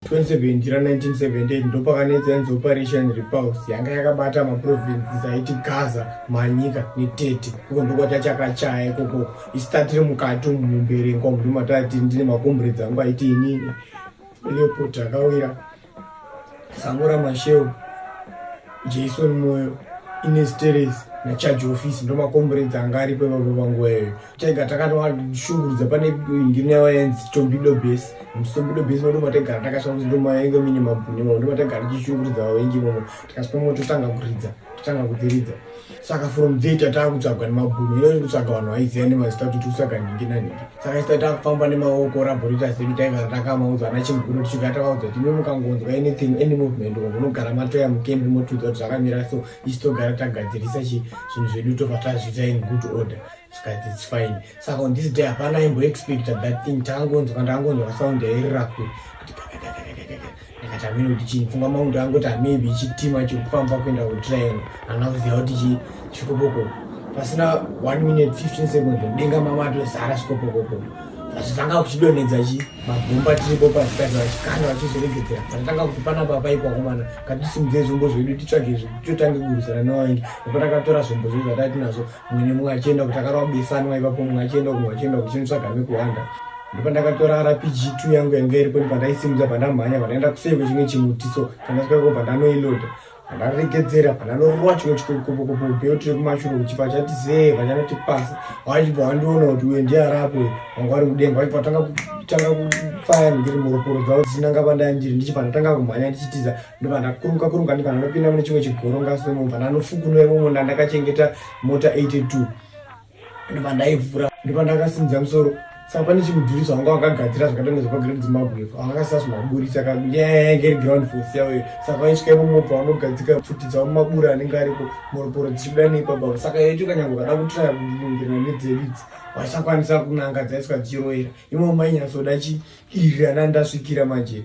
2017 ra 1978 ndopakanetsa yanzi operation repulse yanga yakabata maprovinces aiti gaza manyika netete uko ndokwatachakachaya ikoko isu tatiri mukati umu mumberengwa umu ndomatati ndine makomburedzi angu aiti inini leopot akawira sango ramasheu jason moyo inesteres nachaji office ndomakomburedzi anga aripo ivavo vanguva iyoyo tega takatoashungurudza pane ndine waenzi tombido base tombido base moto mategara takasvika kuti ndomaenge mine mabhuni mo ndomategara tichishungurudza vavengi momo tikasvika mo totanga kuridza totanga kudziridza saka from there tataa kutsvagwa nemabhuni ino kutsvaga vanhu vaiziva nemazita kuti tikutsvaga nhingi nanhingi saka ita takufamba nemaoko raborita sedu taigara takamaudza ana chimuguro tichigara takaudza kuti imi mukangonzwa anything any movement or munogara matoya mukembi motiudza kuti zvakamira so isu togara tagadzirisa chi zvinhu zvedu tobva tazviita in good order zvikati its fine saka on this day hapana aimboexpecta that thing taangonzwa ndaangonzwa kasound yairira kure kuti ndikati amene kuti chii pfungwa mangu ndaangoti amaybe chitima chirikufamba kuenda kutriangle hana kuziva kuti chii chikopoko pasina one minute 15 seconds mudenga mama atozara chikopokoko vachitanga kuchidonhedza chi mabhomba tiripo pazikati vachikanda vachizoregedzera patatanga kuti panapa paikwakomana katisimudze zvombo zvedu titsvage totange kugurisana newaingi nekotakatora zvombo zvedu zvatati nazvo mwene mumwe achienda kuti akarwa besanwa ipapo mumwe achienda kumwe achienda kuchinotsvaga mekuwanda ndopandakatora rpg two yangu yanga iripo ndipandaisimudza pandamhanya pandaenda kuseve chimwe chimutiso pandasvikaiko pandanoiloda pandaregedzera pandanorova chimwe chikokopokopo bheo tiri kumashure kuti pachati zee pachanoti pasi wachibva wandiona kuti uye ndiarapo wanga wari kudenga wachibva watanga kutanga kufaya ndiri muroporo dzavo dzisinanga pandandiri ndichibva ndatanga kumhanya ndichitiza ndobva ndakuruka kuruka ndibva ndinopinda mune chimwe chigoro ngaswemo bva ndanofukunura imomo ndandakachengeta mota 82 ndobva ndaivhura ndobva ndakasimudza musoro saka pane chimudhuri zvanga wakagadzira zvakatanga zvepagreat zimbabwe akakasazvimaburitsa nyaya yainge iri ground force yavo iyo saka vaisvika imomo pavanogadzika pfuti dzavo mumabura anenge ariko mhoroporo dzichibuda neipabavo saka yacho kanyanga ukada kutraya kuingira nedzeridzi vaisakwanisa kunanga dzaiswa dzichiroera imomo mainyasoda chiirirana ndasvikira manje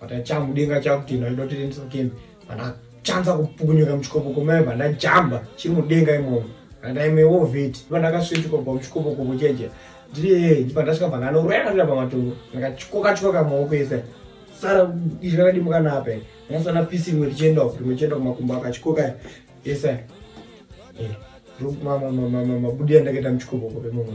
but achamu denga chakutino aida kuti rindisa kemi pana chanza kupukunyuka muchikopo komai pandajamba chiri mudenga imomo andaimewo vheti pandakasvitsvika kubva muchikopo kopo cheje ndiri pandasvika pana anorwera ndira pamatongo ndakatyoka tyoka maoko ese sara izvi rakadimuka napa ndasana pisi rimwe richienda uku rimwe chienda kumakumbo akachikoka ese mabudi andakaita muchikopo kope mumwe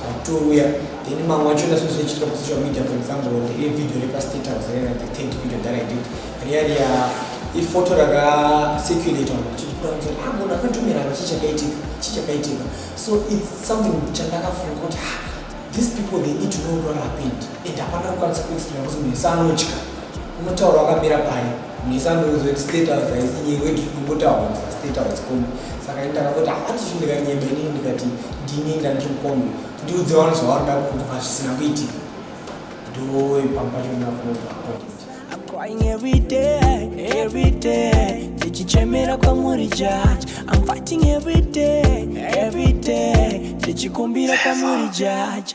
Totouya then mamwe wacho ndasozvichiita kusocial media for example riye video repastate house rena the third video that i did riya riya ifoto rakacirculate vanhu vachikuda kuti ah munhu akatumira apa chichakaitika chichakaitika so its something chandakafunga kuti ah, these people they need to know what happened and hapana kukwanisa kuexplaina kuti munhu ese anotya unotaura wakamira paye Misandoudzwa kuti state house haisi nyika kuti kumbotaura state house kombi saka ini ndakangoti hapati ah, ndikanyeba inini ndikati ndini ndandiri mukombi ndiudze vanhu zvavanoda kunzwa zvisina kuitika ndoe pamba pacho ndakubva crying every day, every day. Ndichichemera kwamuri judge. I'm fighting every day, every day. Ndichikumbira kwamuri judge.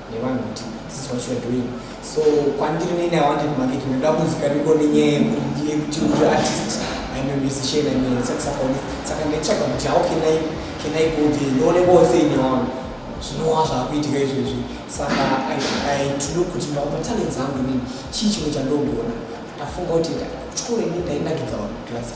nevanhu kuti this is what you're doing so kwandiri nini i wanted market ndoda kuzikamiko nenyaya yekuti ndiye kuti uri artist i'm a musician i'm a saxophonist saka ndaitsvaga kuti how can i can i go there ndione vose ine wangu zvinova zvakuitika izvezvi saka aitulu kuti matalents angu nini chii chimwe chandogona ndafunga kuti chikoro ini ndainakidza vaklasi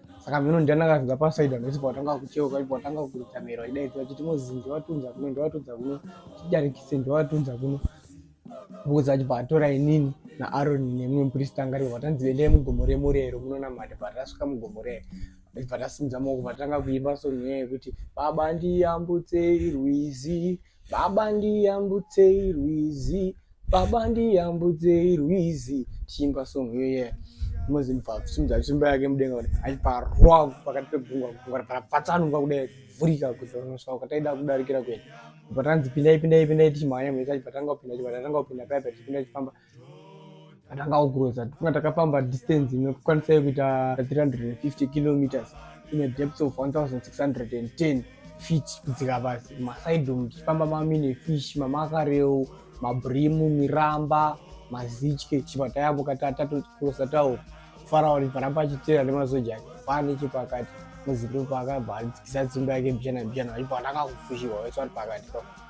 saka mheno ndianaka zvinga pasaida ndosi patanga kucheuka ipo watanga kuita mhero idaidza achiti mozi ndiwatunza kuno ndiwatunza kuno chidarikise ndiwatunza kuno mbuzi achi bvatora inini naaroni nemumwe mupristi anga aripo vatanzi endai mugomo remurero munonamata bvatasvika mugomo rero bvatasimudza maoko bvatanga kuimba song nyaya yekuti baba ndiyambutsei rwizi Baba ndiyambutsei rwizi, baba ndiyambutsei rwizi. Tichiimba song iyo yeah. Mozimba simudza simba yake mudenga kuti aiparwa pakati pegungwa gungwa rapatsanunga kudai kuvhurika kuti vanosvika kwataida kudarikira kuenda. Patanzi pindai pindai pindai tichimhanya mhesa chipatanga kupinda chipatanga kupinda paya pachipinda chifamba atanga kugroza tifunga takafamba distance inokwanisa kuita 350 kilometers ine depth of 1610 feet kudzika pasi masidom tichifamba mamine fish mamakareu mabrimu miramba mazitye chipa tayambuka tatatokurosa tawo farawo riparamba achitera nemasoja ake pane chepakati muzindo paakabva adzikisa tsimba yake bjana bjana aibva atanga kufushiwa wese ari pakati pako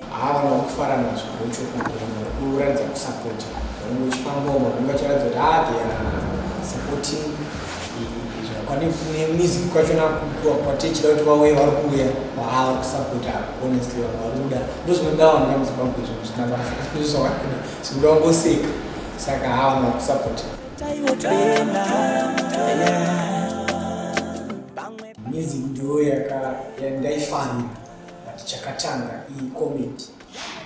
haana kufara nazvo ndochokwadi vanhu vari kuratidza kusapota vanenge vachifambawo vanenge vachiratidza kuti haa they are supporting pane music kwachona kwatechida kuti vauye vari kuuya haa vari kusapota honestly vanhu vari kuda ndozvinoda vanhu vamuzic vangu izvo zvisina basa ndizvo zvavari kuda zvinoda vangoseka saka haa vanhu vari kusapota music ndiyo yaka yandaifanira chakatanga iyi comment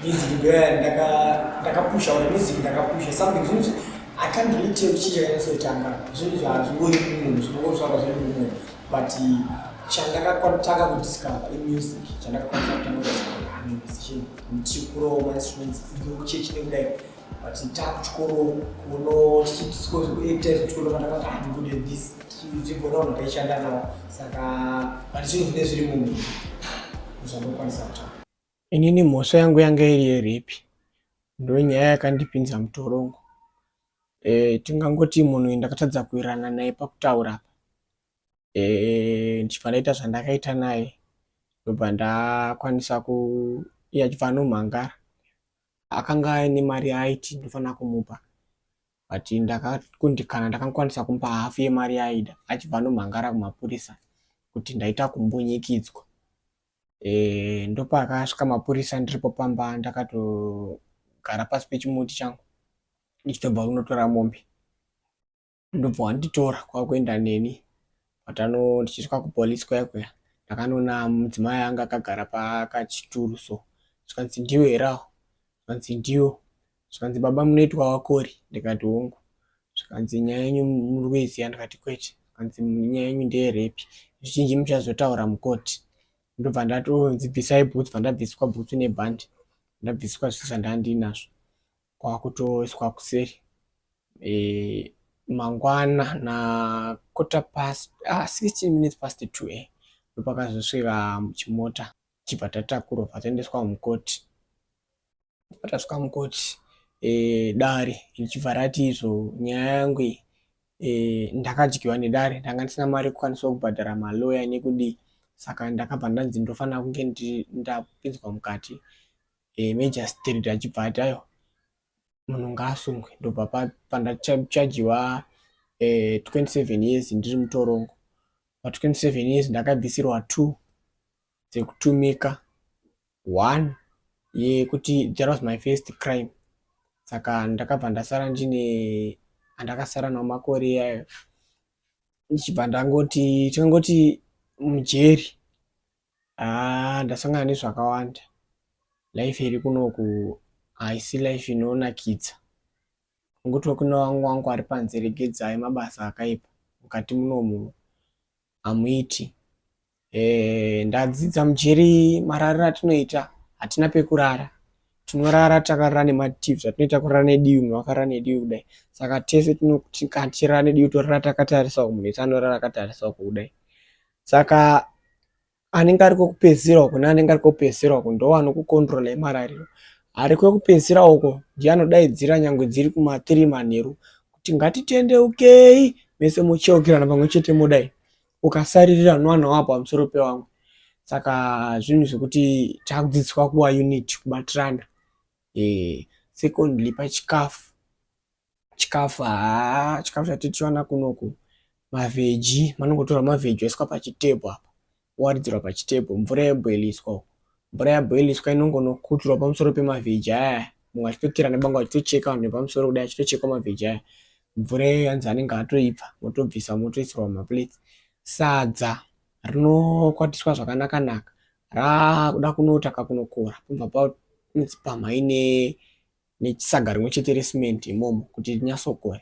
music ndoya ndaka ndakapusha or music ndakapusha something zvinhu i can't really tell chii chakanyatsoitanga zvinhu zvazvingori mumunhu zvinongozvaka zviri mumunhu but chandakatanga kudiscover imusic chandakakwanisa kutanga kudiscover musician ndichikurova mainstruments idzokchechi nekudai but takuchikoro kuno tichitisikoektaizvikunoaaakudenthis tichigona vanhu taishanda navo saka but zvinhu zvine zviri munhu zvandokwanisa kutaura inini mhosva yangu yanga iri yeripi ndonyaya yakandipinza mutorongo e, tingangoti munhu ndakatadza kuirana naye pakutaura apa e, ndichibva ndaita zvandakaita naye ndobva ndakwanisa kuiya chibva anomhangara akanga aine mari yaaiti ndofanira kumupa but ndakakundikana ndakakwanisa kumupa hafu yemari yaaida achibva anomhangara kumapurisa kuti ndaita kumbunyikidzwa e, eh, ndopaakasvika mapurisa ndiripo pamba ndakatogara pasi pechimuti changu ndichitobva kunotora mombe ndobva wanditora kwakuenda neni patano ndichisvika kupolice kuya kuya ndakanoona mudzimai anga akagara pakachituru so zvikanzi ndiwe herawo zvikanzi ndiwo zvikanzi baba munoitwa wakori ndikati hongu zvikanzi nyaya yenyu muri kuiziva ndikati kwete zvikanzi nyaya yenyu ndeyerepi zvizhinji muchazotaura mukoti ndobva ndatonzi bvisai bhutsu bva ndabviswa bhutsu nebhandi ndabviswa zvese zvandandinazvo kwakutoiswa kuseri e, mangwana na quarter past ah, 16 minutes past 2 eh ndopakazosvika chimota chibva tatakurwa pataendeswa mukoti patasvika mukoti e, dare richibva rati izvo nyaya yangu iyi e, ndakadyiwa nedare ndanga ndisina mari yekukwanisa kubhadhara maloya nekudii saka ndakabva ndanzi ndofanira kunge ndapinzwa mukati eh, magistrate achibva ati ayo munhu ngaasungwe ndobva pandachajiwa eh, 27 years ndiri mutorongo pa 27 years ndakabvisirwa two dzekutumika one yekuti that was my first crime saka ndakabva ndasara ndine andakasara nawo makore iyayo ndichibva ndangoti tingangoti mujeri Haa ndasangana nezvakawanda life iri kunoku haisi life inonakidza ungotiwo kuna wangu wangu ari panze regedzai mabasa akaipa mukati munomu hamuiti e, eh, ndadzidza mujeri marariro atinoita hatina pekurara tinorara takarara nemativi zvatinoita kurara nedivi munhu wakarara nedivi kudai saka tese tinotirara nedivi torara takatarisa ku munhu ese anorara akatarisawo kudai saka anenge ari kwekupedzisira uko neanenge ari kwekupedzisira uko ndo anokukontrola yemarariro ari kwekupedzisira uko ndiye anodaidzira nyangwe dziri kumatiri manheru kuti ngatitendeukei mese mucheukirana pamwe chete modai ukasaririra nowana wapo pamusoro pewangu saka zvinhu zvekuti takudzidziswa kuwa unit kubatirana e, secondly pachikafu chikafu haa chikafu chatitiwana kunoku mavheji manongotora mavheji oiswa pachitebho apa waridzirwa pachitebho mvura yeboiliswa uko mvura yaboiliswa inongonokutirwa pamusoro pemavheji aya mumwe achitokera nebanga achitocheka vanhu vepamusoro kudai achitochekwa mavheji aya mvura iyo yanzi anenge atoibva motobvisa motoisirwa maplates sadza rinokwatiswa zvakanaka naka raakuda kunotaka kunokora pamva pamhaine nesaga rimwe chete resimende imomo kuti rinyatsokora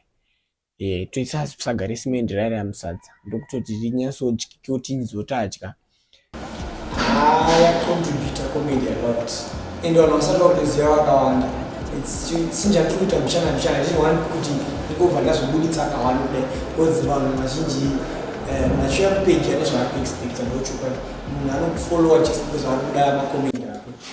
e, toisa saga resimende raive ramusadza ndokutoti rinyatsodyiwa kuti nizotadya yacontributa comedy a lot and vanhu vasati vakutoziva vakawanda sinjatikuita muchana muchana ndiri one kuti ndikobva ndazvibuditsa akawanda kudai because vanhu vazhinji eh, machiuya kupeji ane zvaakuexpecta ndochokwadi munhu anokufollowa just because vakuda macomedy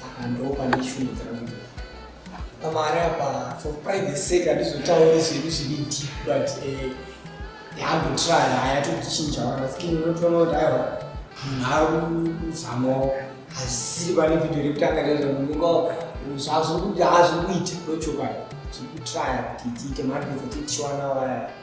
saka ndopane shungu dzangu pamari apa for private sake handizotauri zvedu zviri deep but eh, yambotry haya tochinja vanasikini unotoona kuti aiwa munhu akuzamawo hazisiri pane video rekutanga rezvamunenga zvazvokuti hazvokuita ndochokwadi zvikutraya kuti tiite maadvesa titiwana waya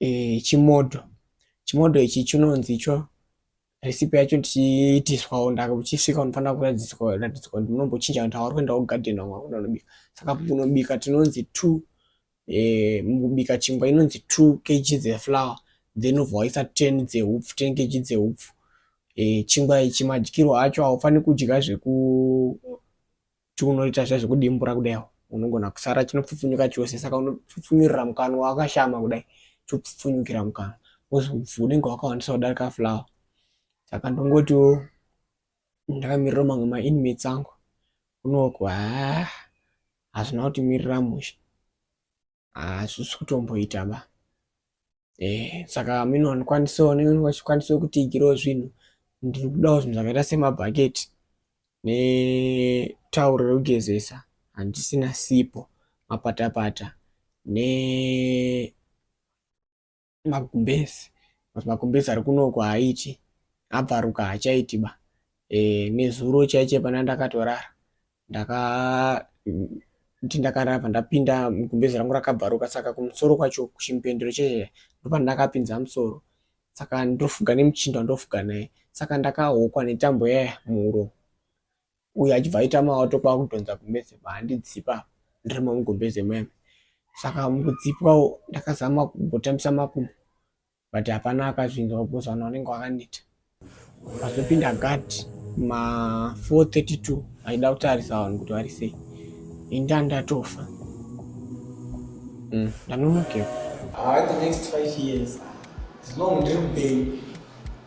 e, chimodho chimodho ichi chinonzi cho recipe yacho tichiitiswawo ndakachisvika unofanira kuratidzwa ratidzwa kuti unombochinja kuti hauri kuenda kugarden wanga kuda unobika saka unobika tinonzi two e, mukubika chingwa inonzi two kg dzeflower then ubva waisa ten dzeupfu ten kg dzeupfu e, chingwa ichi madyirwo acho haufaniri kudya zveku chiunoita zviya zvekudimbura kudai unogona kusara chinopfupfunyuka chose saka unopfupfunyurira mukanwa wakashama kudai chopfupfunyukira mukanwa wozobvu unenge wakawandisa kudarika flower saka ndongotiwo ndakamirira mamwe mainmates angu unoku haa hazvina kuti mirira mushe hazvisi kutomboita ba eh saka mino wanikwanisawo nenge wachikwanisa kutigirawo zvinhu ndiri kudawo zvinhu zvakaita semabhaketi netauro rekugezesa handisina sipo mapatapata ne magumbezi but magumbezi ari kunoko haaiti abvaruka hachaiti ba e, nezuro chaiche pana ndakatorara ndaka kuti ndakarava ndapinda mugumbezi rangu rakabvaruka saka kumusoro kwacho kuchimpendero chaiche ndopandakapinza musoro saka ndofuga nemuchinda ndofuga naye saka ndakahokwa netambo yaya muuro uyu achibva aita maoto kwakudhonza gumbeze kwaandidzipa ndirimo mugumbeze muyana saka mukudzipwawo ndakazama kumbotambisa makumbo but hapana akazvinzwa because vanhu vanenge vakaneta vazopinda gad ma 432 aida kutarisa vanhu kuti vari sei inda ndatofa mm, ndanonokewa ah, the next five years as long ndiri mupenyu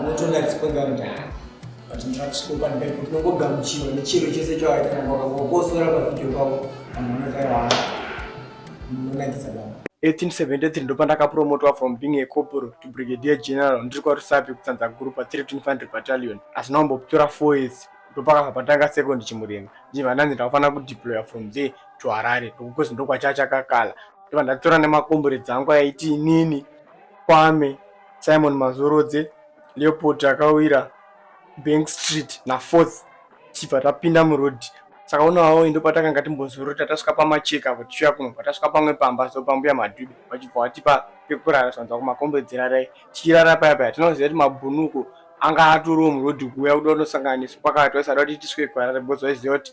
unotoona dzikwega kuti ha but ndirakusikopandai kuti unongogamuchiwa nechiro chese chawaita wakangokosora pavideo pavo vanhu vanotaira unonakidza baba 1873 ndopandakapromotwa from being a corporal to brigadier general ndiri kwarusapi kutsanza guru pa 3 infantry battalion asi naombokutora 4 years ndopakabva patanga second chimurenga ndiva ndanzi ndakufanira kudeploya from there to harare ndokukozi ndokwachachakakala ndovandatora nemakombure dzangu aiti inini kwame Simon Mazorodze, Leopold Akawira, Bank Street na Fourth tichibva tapinda muroad saka unovawo indo patakanga timbozorota tasvika pamacheka apo tichiuya kuno patasvika pamwe pamba so pambuya madhubi vachibva vatipa pekurara zvanza kumakombedzera rai tichirara paya paya tinoziva kuti mabhunuko anga atorowo muroad kuuya kuda kunosangana nesu pakati vaisada kuti tisvike kuharare because vaiziva kuti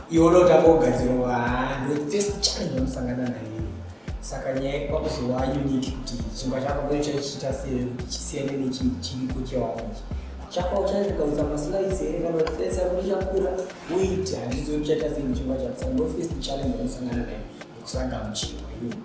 Iwe unotanga kugadzirwa haa ndo first challenge yamusangana nayo saka nyaya kwakuzowa unique kuti chingwa chako ngeno chaichiita sei kuti chisiyane nechiripo chewako ichi chako uchaikaudza maslides here kana face yako ichakura weight handizo uchaita sei nechingwa chako saka ndo first challenge yamusangana nayo ndokusanga muchingwa iyoyo